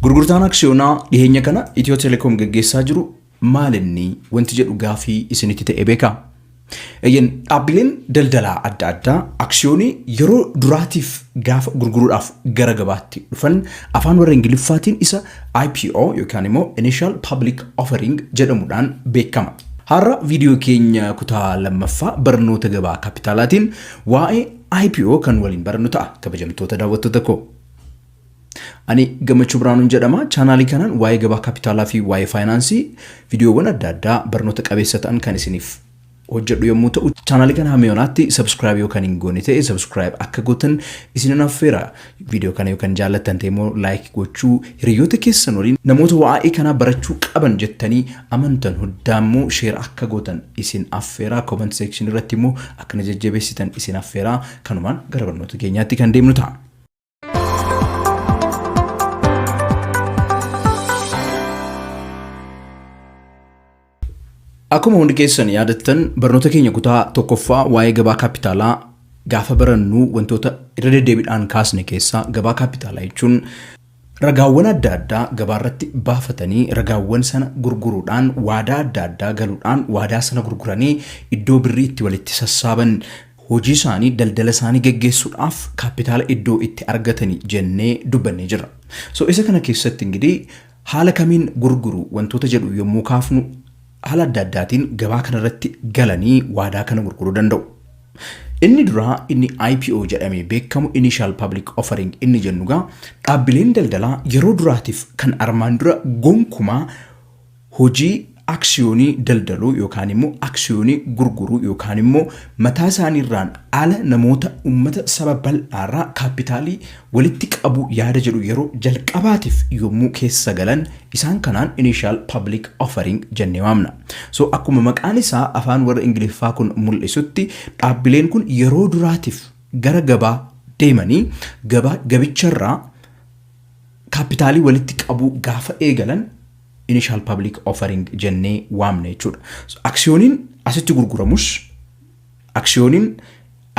Gurgurtaan aksiyoonaa dhiheenya kana Itiyoo Telekoom gaggeessaa jiru maalinni wanti jedhu gaafii isinitti ta'e beekaa? Eeyyeen dhaabbileen daldalaa adda addaa aksiyoonii yeroo duraatiif gaafa gurguruudhaaf gara gabaatti dhufan afaan warra Ingiliffaatiin isa IPO yookaan immoo Initial Public Offering jedhamuudhaan beekama. Har'a viidiyoo keenya kutaa lammaffaa barnoota gabaa kapitaalaatiin waa'ee IPO kan waliin barannu ta'a kabajamtoota daawwattoota koo. Ani Gammachuu Biraanuun jedhama. Chaanaalii kanaan waa'ee gabaa kapitaalaa fi waa'ee faayinaansii viidiyoowwan adda addaa barnoota qabeessa ta'an kan isiniif hojjedhu yommuu ta'u, chaanaalii kana hamma yoonaatti subscribe yoo kan hin goone ta'e subscribe akka gootan isinin affeera. Viidiyoo kana yoo kan jaallattan ta'e immoo like gochuu, hiriyoota keessan waliin namoota waa'ee kanaa barachuu qaban jettanii amantan hundaa immoo share akka gootan isin affeera. Comment section irratti immoo akka na jajjabeessitan isin affeera. Kanumaan gara barnoota keenyaatti kan deemnu ta'a. Akkuma hundi keessan yaadattan barnoota keenya kutaa tokkoffaa waa'ee gabaa kaappitaalaa gaafa barannu wantoota irra deddeebiidhaan kaasne keessaa gabaa kaappitaalaa jechuun ragaawwan adda addaa gabaa irratti baafatanii ragaawwan sana gurguruudhaan waadaa adda addaa galuudhaan waadaa sana gurguranii iddoo birrii itti walitti sassaaban Hojii isaanii, daldala isaanii geggeessuudhaaf kaappitaala iddoo itti argatani jennee dubbannee jirra. So isa kana keessatti ingidihi haala kamiin gurguru wantoota jedhu yommuu kaafnu haala adda addaatiin gabaa kana irratti galanii waadaa kana gurguruu danda'u. Inni duraa inni IPO jedhamee beekamu Initial Public Offering inni jennu egaa dhaabbileen daldalaa yeroo duraatiif kan armaan dura gonkumaa hojii aksiyoonii daldaluu yookaan immoo aksiyoonii gurguruu yookaan immoo mataa isaaniirraan ala namoota uummata saba bal'aarraa kaappitaalii walitti qabuu yaada jedhu yeroo jalqabaatiif yommuu keessa galan isaan kanaan initial public offering jennee waamna. So akkuma maqaan isaa afaan warra Ingiliffaa kun mul'isutti dhaabbileen kun yeroo duraatiif gara gabaa deemanii gabaa gabicharraa kaappitaalii walitti qabuu gaafa eegalan initial public offering jennee waamna jechuudha. So, aksiyooniin asitti gurguramus, aksiyooniin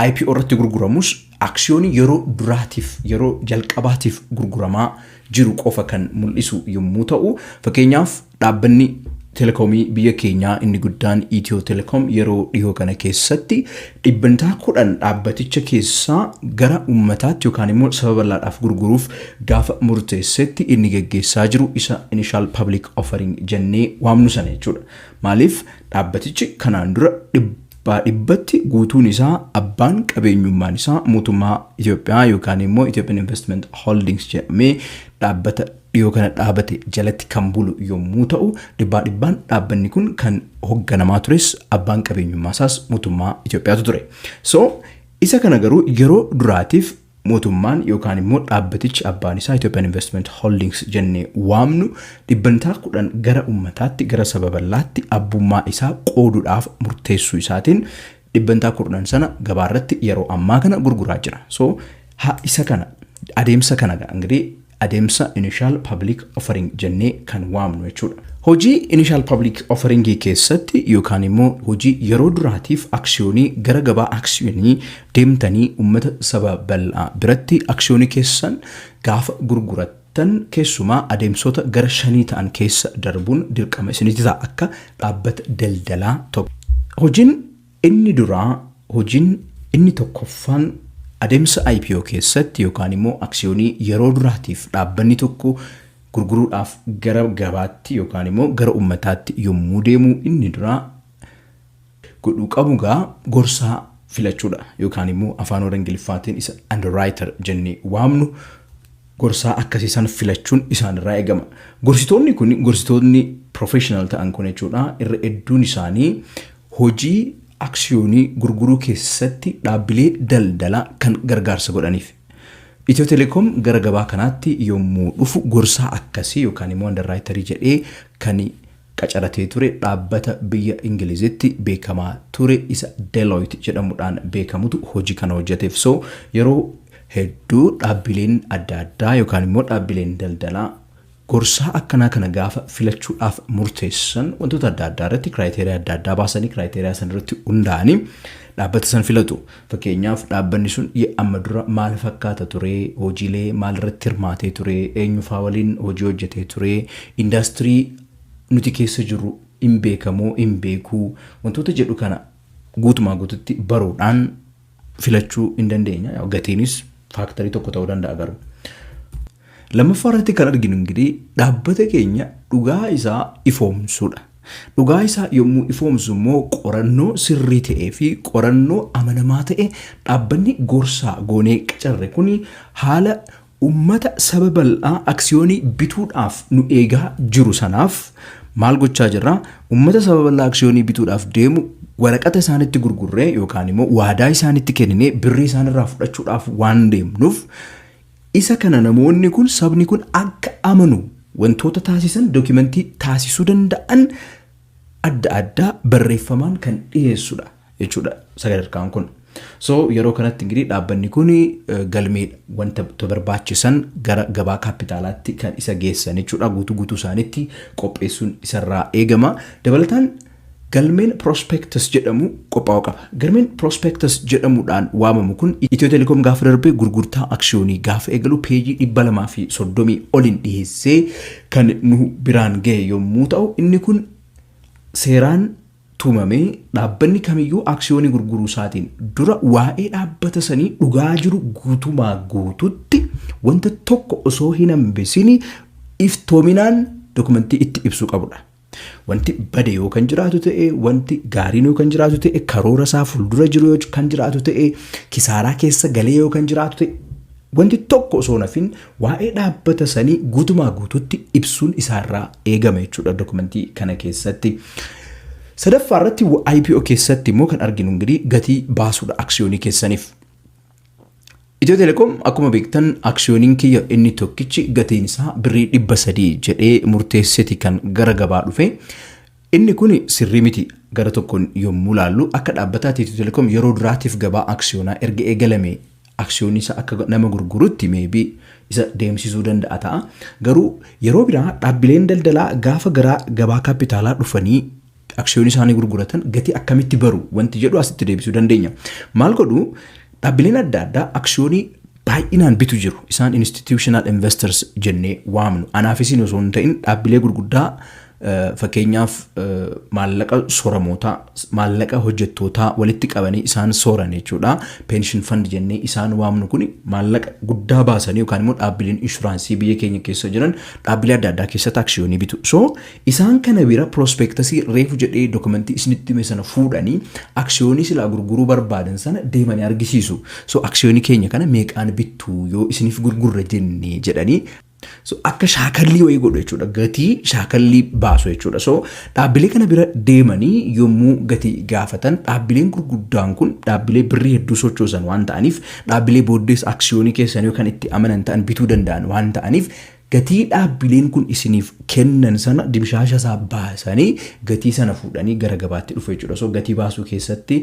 IPO irratti gurguramus, aksiyoonii yeroo duraatiif, yeroo jalqabaatiif gurguramaa jiru qofa kan mul'isu yommuu ta'u, fakkeenyaaf dhaabbanni telekoomii biyya keenyaa inni guddaan Itiyoo Telekoom yeroo dhihoo kana keessatti Dhibbantaa 10 dhaabbaticha keessaa gara ummataatti yookaan immoo saba bal'aadhaaf gurguruuf gaafa murteessetti inni geggeessaa jiru isa initial public offering jennee waamnu sana jechuudha. Maaliif dhaabbatichi kanaan dura dhibbaa dhibbatti guutuun isaa abbaan qabeenyummaan isaa mootummaa Itoophiyaa yookaan immoo Ethiopian Investment Holdings jedhamee dhaabbata dhiyoo kana dhaabate jalatti kan bulu yommuu ta'u, dhibbaa dhibbaan dhaabbanni kun kan hogganamaa tures abbaan qabeenyummaa isaas mootummaa Itoophiyaatu ture. So isa kana garuu yeroo duraatiif mootummaan yookaan immoo dhaabbatichi abbaan isaa Ethiopian Investment Holdings jennee waamnu dhibbantaa kudhan gara ummataatti gara saba bal'aatti abbummaa isaa qooduudhaaf murteessuu isaatiin dhibbantaa kudhan sana gabaarratti yeroo ammaa kana gurguraa jira. So ha isa kana adeemsa kana gaa ingirii adeemsa initial public offering jennee kan waamnu jechuudha. Hojii initial public offering keessatti yookaan immoo hojii yeroo duraatiif aksiyoonii gara gabaa aksiyoonii deemtanii uummata saba bal'aa biratti aksiyoonii keessan gaafa gurgurattan tan keessumaa adeemsota gara shanii ta'an keessa darbuun dirqama isinitti ta'a akka dhaabbata daldalaa tokko. Hojiin Inni duraa hojiin inni tokkoffaan adeemsa IPO keessatti yookaan immoo aksiyoonii yeroo duraatiif dhaabbanni tokko gurguruudhaaf gara gabaatti yookaan immoo gara ummataatti yommuu deemu inni duraa godhuu qabu egaa gorsaa filachuudha yookaan immoo afaan warra ingiliffaatiin isa underwriter jennee waamnu gorsaa akkasii san filachuun isaanirraa eegama. Gorsitoonni kun gorsitoonni professional ta'an kun jechuudha irra hedduun isaanii Hojii aksiyoonii gurguruu keessatti dhaabbilee daldalaa kan gargaarsa godhaniif. Itiyoo Telekoom gara gabaa kanaatti yommuu dhufu gorsaa akkasii yookaan immoo andarraayitarii jedhee kan qacaratee ture dhaabbata biyya Ingilizitti beekamaa ture isa Deloitte jedhamudhaan beekamutu hojii kana hojjeteef. So yeroo hedduu dhaabbileen adda addaa yookaan immoo dhaabbileen daldalaa Gorsaa akkanaa kana gaafa filachuudhaaf murteessan wantoota adda addaa irratti kiraayiteriyaa adda addaa baasanii kiraayiteriyaa san irratti hundaa'anii dhaabbata san filatu. Fakkeenyaaf dhaabbanni sun ye amma dura maal fakkaata ture, hojiilee maal irratti hirmaatee ture, eenyu faa waliin hojii hojjetee ture, indaastirii nuti keessa jirru hin beeka moo hin beeku wantoota jedhu kana guutumaa guututti baruudhaan filachuu hin dandeenya. Gatiinis faaktarii tokko ta'uu danda'a garuu. Lammaffaa irratti kan arginu ingirii dhaabbata keenya dhugaa isaa ifoomsuudha. Dhugaa isaa yommuu ifoomsu immoo qorannoo sirrii ta'ee fi qorannoo amanamaa ta'e dhaabbanni gorsaa goonee qacarre kun haala ummata saba bal'aa aksiyoonii bituudhaaf nu eegaa jiru sanaaf maal gochaa jirra? Ummata saba bal'aa aksiyoonii bituudhaaf deemu waraqata isaanitti gurgurree yookaan immoo waadaa isaanitti kenninee birrii isaanirraa fudhachuudhaaf waan deemnuuf Isa kana namoonni kun, sabni kun akka amanu wantoota taasisan, dokimantii taasisuu danda'an adda addaa barreeffamaan kan dhiyeessu dha jechuu dha sadarkaan kun. So yeroo kanatti ingirii dhaabbanni kun eh, galmee wanta to barbaachisan gara gabaa kaappitaalaatti kan isa geessan jechuu dha. Guutuu guutuu isaanitti qopheessuun isarraa eegama. Dabalataan Galmeen prospectus jedhamu qophaa'uu qaba. Galmeen prospectus jedhamuudhaan waamamu kun Itiyoo Telekoom gaafa darbe gurgurtaa aksiyoonii gaafa eegalu peejii 230 oliin dhiheessee kan nu biraan gahe yommuu ta'u inni kun seeraan tumamee dhaabbanni kamiyyuu aksiyoonii gurguruu isaatiin dura waa'ee dhaabbata sanii dhugaa jiru guutumaa guututti wanta tokko osoo hin hambisini iftoominaan dokumentii itti ibsuu qabudha. Wanti bade yoo kan jiraatu ta'e, wanti gaariin yoo kan jiraatu ta'e, karoora isaa fuuldura jiru yoo kan jiraatu ta'e, kisaaraa keessa galee yoo kan jiraatu ta'e, wanti tokko osoo hin hafin waa'ee dhaabbata sanii guutumaa guutuutti ibsuun isaarraa eegama jechuudha dokumentii kana keessatti. Sadaffaa irratti IPO keessatti immoo kan arginu ingirii gatii baasuudha aksiyoonii keessaniif. Itiyoo Telekoom akkuma beektan aksiyooniin kiyya inni tokkichi gatiin isaa birrii dhibba sadii jedhee murteesseti kan gara gabaa dhufe. Inni kun sirrii miti gara tokkoon yommuu laallu akka dhaabbataatti Itiyoo Telekoom yeroo duraatiif gabaa aksiyoonaa erga eegalame aksiyoonii isaa akka nama gurgurutti meebii isa deemsisuu danda'a ta'a. Garuu yeroo biraa dhaabbileen daldalaa gaafa garaa gabaa kaappitaalaa dhufanii aksiyoonii isaanii gurguratan gatii akkamitti baru wanti jedhu asitti deebisuu dandeenya. Maal godhu dhaabbileen adda addaa aksiyoonii baay'inaan bitu jiru. Isaan institutional investors jennee waamnu. Anaaf isin osoo hin ta'in dhaabbilee gurguddaa fakkeenyaaf maallaqa soramootaa maallaqa hojjettootaa walitti qabanii isaan sooran jechuudha. Pension fund jennee isaan waamnu kun maallaqa guddaa baasanii yookaan immoo dhaabbileen inshuraansii biyya keenya keessa jiran dhaabbilee adda addaa keessatti aksiyoonii bitu. So Isaan kana bira prospectus reefu jedhee document isinitti hime sana fuudhanii aksiyoonii silaa gurguruu barbaadan sana deemanii argisiisu. So aksiyoonii keenya kana meeqaan bittu yoo isiniif gurgurre jenne jedhanii So akka shaakallii wayii godhu jechuudha. Gatii shaakallii baasu jechuudha. So dhaabbilee kana bira deemanii yommuu gatii gaafatan dhaabbileen gurguddaan kun dhaabbilee birrii hedduu sochoosan waan ta'aniif dhaabbilee booddees aksiyoonii keessanii kan itti amanan ta'an bituu danda'an waan ta'aniif Gatii dhaabbileen kun isiniif kennan sana dimshaasha isaa baasanii gatii sana fuudhanii gara gabaatti dhufu jechuudha. So gatii baasuu keessatti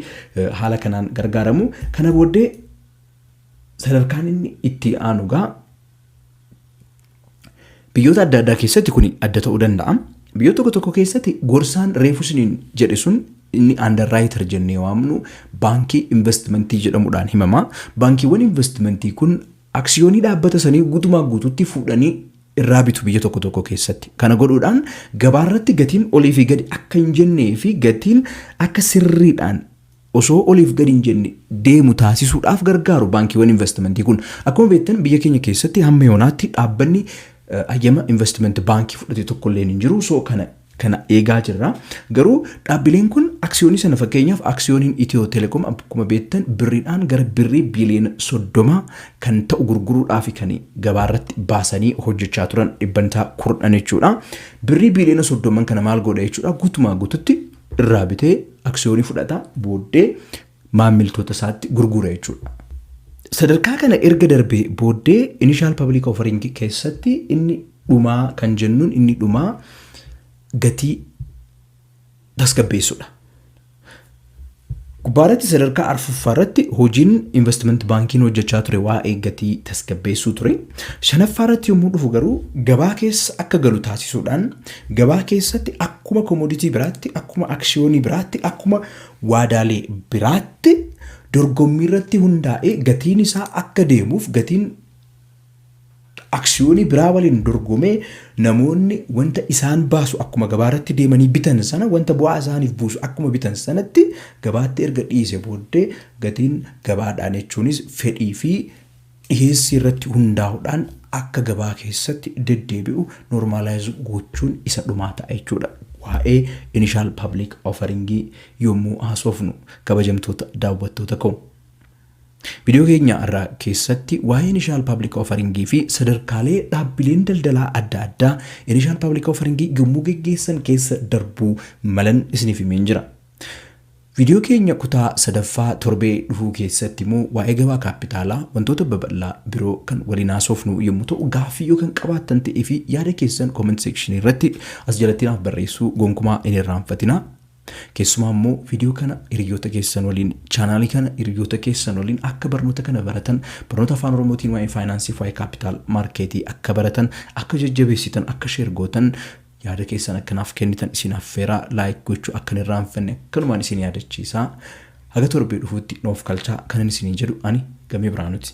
haala kanaan gargaaramu. Kana booddee sadarkaan inni itti aanu egaa biyyoota adda addaa keessatti kun adda ta'uu danda'a. Biyyoota tokko tokko keessatti gorsaan reefu isiniin jedhe sun inni underwriter jennee waamnu baankii investimentii jedhamuudhaan himama. Baankiiwwan investimentii kun Aksiyoonii dhaabbata sanii guutumaa guutuutti fuudhanii irraa bitu biyya tokko tokko keessatti. Kana godhuudhaan gabaarratti gatiin oliifi gadi akka hin jenneefi gatiin akka sirriidhaan osoo oliif gadi hin jenne deemu taasisuudhaaf gargaaru baankiiwwan invastimantii kun. Akkuma beektan biyya keenya keessatti hamma yoonaatti dhaabbanni hayyama invastimenti baankii fudhate tokkolleen hin jiru. So kana kana eegaa jirra. Garuu dhaabbileen kun aksiyoonii sana fakkeenyaaf aksiyooniin Itiyoo Teleekoom akkuma beektan birriidhaan gara birrii biiliyoona soddoma kan ta'u gurguruudhaaf kan gabaa irratti baasanii hojjechaa turan dhibbantaa kurn'an jechuudha. Birrii biiliyoona soddomman kana maal godha jechuudha guutumaa guututti irraa bitee aksiyoonii fudhata booddee maammiltoota isaatti gurgura jechuudha. Sadarkaa kana erga darbee booddee initial public offering keessatti inni dhumaa kan jennuun inni dhumaa gatii tasgabbeessudha. Gubbaarratti sadarkaa arfuffaa irratti hojiin investment baankiin hojjechaa ture waa'ee gatii tasgabbeessuu ture. Shanaffaa irratti yommuu dhufu garuu gabaa keessa akka galu taasisuudhaan gabaa keessatti akkuma komoditii biraatti akkuma aksiyoonii biraatti akkuma waadaalee biraatti dorgommiirratti hundaa'ee gatiin isaa akka deemuuf gatiin aksiyoonii biraa waliin dorgomee namoonni wanta isaan baasu akkuma gabaarratti deemanii bitan sana wanta bu'aa isaaniif buusu akkuma bitan sanatti gabaatti erga dhiise booddee gatiin gabaadhaan jechuunis fedhii fi dhiheessii irratti hundaa'uudhaan akka gabaa keessatti deddeebi'u normalize gochuun isa dhumaa ta'a jechuudha waa'ee initial public offering yommuu haasofnu kabajamtoota daawwattoota koo. Viidiyoo keenya irraa keessatti waa'ee initial public offering fi sadarkaalee dhaabbileen daldalaa adda addaa initial public offering yommuu geggeessan keessa darbuu malan isiniif himeen jira. Viidiyoo keenya kutaa sadaffaa torbee dhufuu keessatti immoo waa'ee gabaa kaappitaalaa wantoota babal'aa biroo kan waliin haasofnu yommuu ta'u gaaffii yoo kan qabaattan ta'ee fi yaada keessan comment section irratti as jalatti naaf barreessuu gonkumaa hin irraanfatinaa. Keessumaa immoo viidiyoo kana hiriyoota keessan waliin chaanaalii kana hiriyoota keessan waliin akka barnoota kana baratan barnoota afaan oromootiin waa'ee faayinaansii fi waa'ee kaappitaal maarkeetii akka baratan akka jajjabeessitan akka sheer gootan Yaada keessan akka naaf kennitan isin affeera, like gochuu akka hin irraanfanne kanumaan isin yaadachiisa. Haga torbee dhufuutti nuuf kalchaa kanan isiniin jedhu ani Gamee Birhaanuti.